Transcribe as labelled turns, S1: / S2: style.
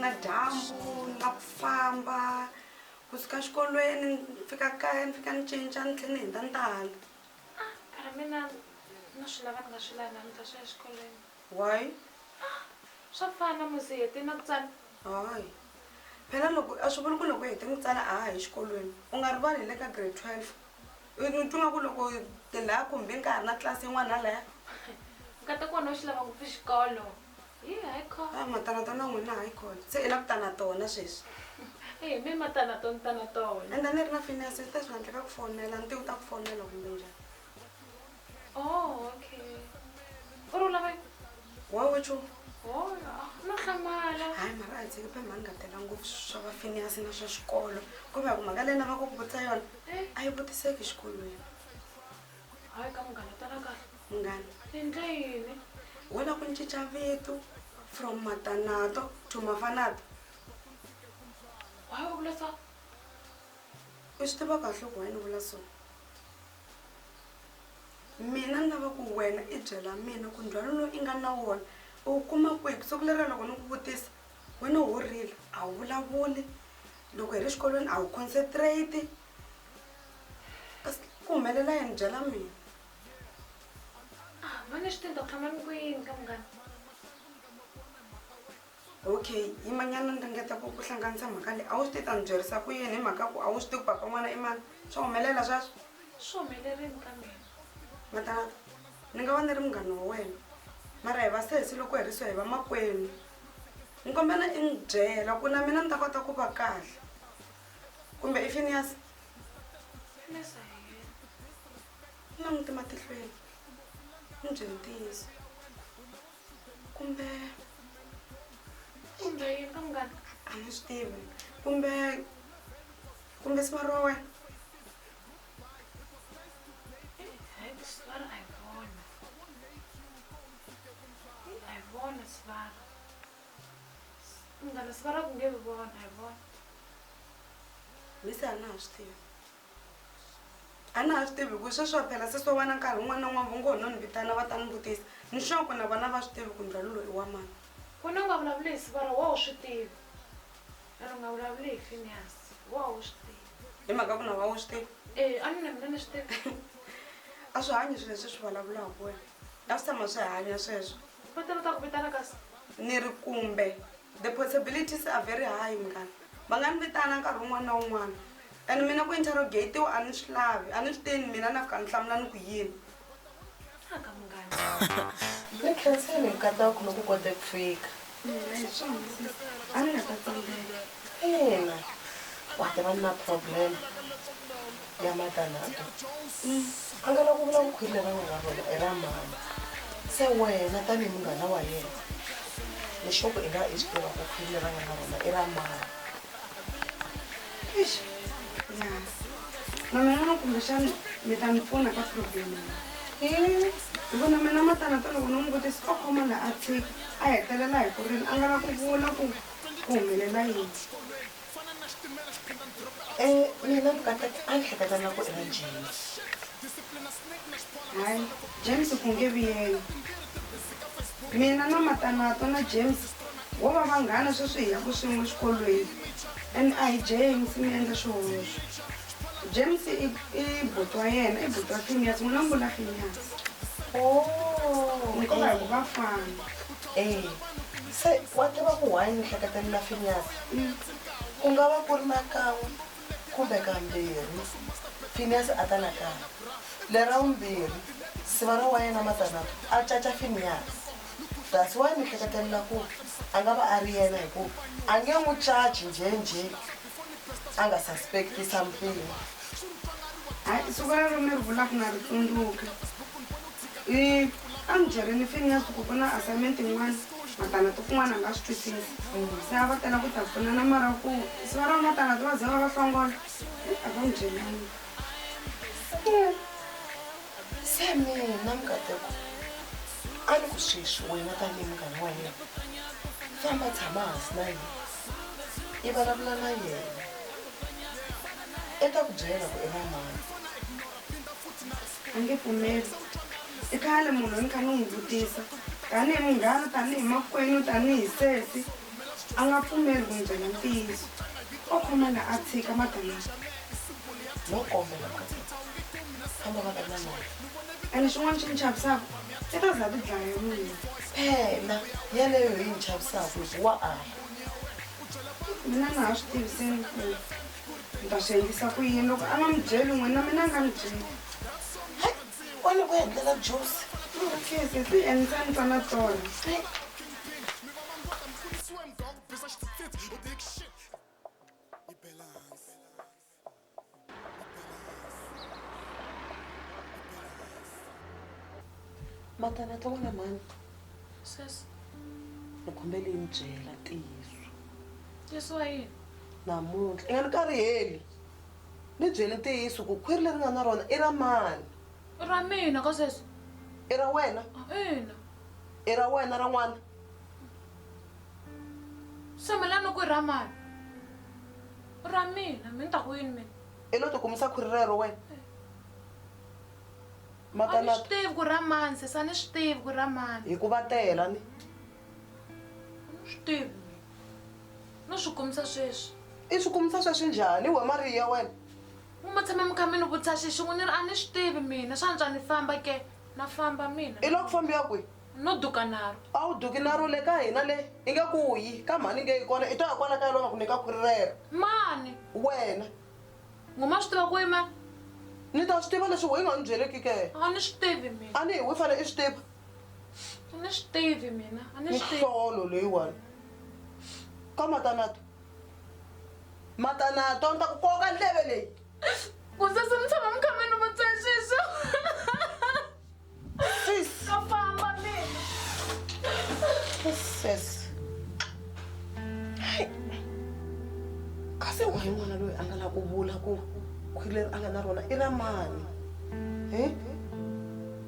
S1: na dyambu na ku famba kusuka xikolweni ni fika kaya ni fika ni cinca ni tlhela ni hundza ni ta hala ah,
S2: mina na swi lava ni nga swi lava ni ta swi ya exikolweni why swa fana musi hete na ku tsala hayi
S1: phela loko a swi vuli ku loko hete ku tsala a ha hi xikolweni u nga rivali hi le ka grade twelve u twa nga ku loko tilaya kumbe ka ha ri na tlilasi yin'wana na laya nkata
S2: ku wena u xi lava ngopfu xikolo hi hayi kho a matana
S1: tona n'wina hayi khona se i la ku tana tona sweswi ehe mi
S2: matana to ni tana tona enda ni ri na
S1: finance swi ta swi nga ndleka ku fonela ntiwu ta ku fonela kumbe njhani Oh,
S2: okay. U ri u lava yini? Wa we nchumu.
S1: Oh, ah, no
S2: hlamala. hayi mara a hi tshiki
S1: phambi ni nga tela ngopfu swa va finias na swa xikolo kumbe ya ku mhaka leyi lava ku ku vutisa yona Eh, a yi vutiseki xikolweni
S2: hayi ka munghana tala kahle. munghana Ni endle
S1: yini?
S2: wo la ku ni
S1: cinca vito from matanato to mafanato
S2: Why u vula so?
S1: u swi tiva kahle ku why ni vula so Mina ni lava ku wena i byela mina ku ndzhwalo lowu i nga na wona u wu kuma kwihi ku siku leriya loko ni ku vutisa wena ho rila a wu vulavuli loko hi ri xikolweni a wu concentrate ku humelela yini byela mina a
S2: va ni swi ta tshama ni ku yini ka munghana.
S1: okay yimanyana ni ringeta ku ku hlanganisa mhaka leyi a wu swi ti ta ni byerisa ku yini hi mhaka ku a wu swi ti ku papa n'wana i mani swa humelela sweswo swi humelerini
S2: ka mina matanata
S1: ni nga va ni ri munghana wa wena mara hi va sesi loko hi ri so hi va makwenu ni kombela i ni byela ku na mina ni ta kota ku va kahle kumbe i finias na muti matihlweni ni byela ntiyiso kumbe
S2: kumbe yini ka munghana a ni swi tivi
S1: kumbe kumbe siva ro wena
S2: Ngala sivara ku nge vi vona hi vona.
S1: Lisa a na ha swi tivi. A na ha swi tivi ku sweswi wa phela sesi wa wena nkarhi wun'wana na wun'wana va ngo ho no ni vitana va ta ni vutisa ni sure ku na vona a va swi tivi ku ndzhwalo lowu i wa mani. Ku na u nga
S2: vulavuli hi siku ra wena u swi tiva a ni u nga vulavuli hi Phineas wa wena u swi tiva. Hi mhaka ku na wa wena u
S1: swi tiva. Eya a ni na mina ni swi
S2: tiva. A swi
S1: hanyi swilo leswi hi swi vulavulaka wena a swi tshama swi hanya sweswo. Va ta va ta ku vitana
S2: kasi. Ni ri kumbe.
S1: The possibilities are very high munghana va nga ni vitana nkarhi wun'wana na wun'wana and mina ku interrogate-iwa a ni swi lavi a ni swi teni mina na fika ni hlamula ni ku yini
S2: aka munghana ni
S3: khenseni hi katsa ku loko kote ku fika
S1: a ni nga ta tsandzeka
S3: ina wa ta va ni na problem ya matanata mm, a nga la ku vula vukhwiri leri a nga na rona i ra mama se wena tanihi munghana wa yena lexoko i nga i swi tiva ku khwiri leri a nga na rona i ra mama mama
S1: yona kumbexani mi ta ni pfuna ka problem hi ku na mina matanata loko no n'wi vutisa o khoma la a tshiki a hetelela hi ku rini a nga la ku vula ku ku humelela yini
S3: e mina vukatati a ni hleketa nga ku i va james
S1: hayi james ku nge vi yena mina na matanato na james wo va vanghana sweswi hi yaku swin'we xikolweni and a hi james mi endla xihoxo james i i buti wa yena i buti wa finyasi n'wina mi vula finyasi ni ko va hi ku va fana
S3: se wa tiva ku why ni hleketelela finyasi Ku nga va ku ri na kan'we kumbe kambirhi Finiyasi a ta nakambe. Le ra vumbirhi, siva ra wa yena Matanata a caca Finiyasi. That's why mi hleketelela ku a nga va a ri yena hikuva a nge n'wi caci njhe-njhe a nga suspect-i something. Hayi,
S1: siku rero mi ri vulaka na ri tsundzuka. I, A mi byerini Finiyasi ku ku na assignment yin'wana vatana to kun'wana nga swi twisisi se a va tela ku ta pfuna na mara ku se va ra va vatana to va ze va va hlongola a va n'wi byelanga
S3: se mina mukateko a ni ku sweswi wena tanihi munghana wa yena famba tshama hansi na yena i vulavula na yena i ta ku byela ku i va mani
S1: a nge pfumeli i khale munhu ni kha ni n'wi vutisa tanihi munghana tanihi makwenu tanihi sesi a nga pfumeli ku n'wi byela ntiyiso o khomana a tshika madanaa
S3: no kombela kambe madanaa ene xin'wana xi
S1: ni chavisaka i ta za ti dlaya mina phela
S3: yeleyo yi ni chavisaka hikuwa a mina
S1: na ha swi tiviseni ku ni ta swi endlisa ku yini loko a nga mi byeli n'wini na mina a nga mi byeli
S3: wani ku endlela jusi kese
S1: ti endla ni twana tona
S3: matana twa wena mhani ni kombela yi ni byela ntiyiso
S2: namuntlha i nga
S3: ni kariheli ni byeli ntiyiso ku khwiri leri nga na rona i ra mani i ra mina
S2: ka sweswi i ra wena
S3: ina
S2: i ra
S3: wena ra n'wana
S2: se mina ni ku i ra mani i ra mina mi ni ta ku yini mina i lo tikumisa khwiri
S3: rero wena
S2: a ni swi tivi ku ra
S3: mani
S2: sesa ni swi tivi ku ra mani hikuva tela ni Swi No swi kumisa sweswi. I swi kumisa sweswi
S3: njhani? Wa Mariya wena. N'wi ma tshame
S2: mukhamini vutisa xixi n'wi ni ri a ni swi tivi mina swa antswa ni famba ke na famba mina. I loko fambiwa kwihi?
S3: No duka naro.
S2: A wu duki naro le
S3: ka hina le i nge ku yi ka mhani nge yi kona i to ya kwala kaya loko nga ku nyika khwiri rero. Mani?
S2: Wena.
S3: N'wi ma
S2: swi tiva ku yima? Ni ta swi
S3: tiva leswi why nga ni byeleki ke? A ni swi tivi mina.
S2: A ni hi wi fane i swi tiva. a ni swi tivi mina a ni swi tihlolo leyiwani
S3: ka matanato matanato ni ta ku koka ndleve leyi ku sese
S2: mi tshama mi khameni mi tseswiso
S3: sis ka famba
S2: mina
S3: sis kasi wa hi n'wana loyi a nga la ku vula ku khwileri a nga na rona i ra mani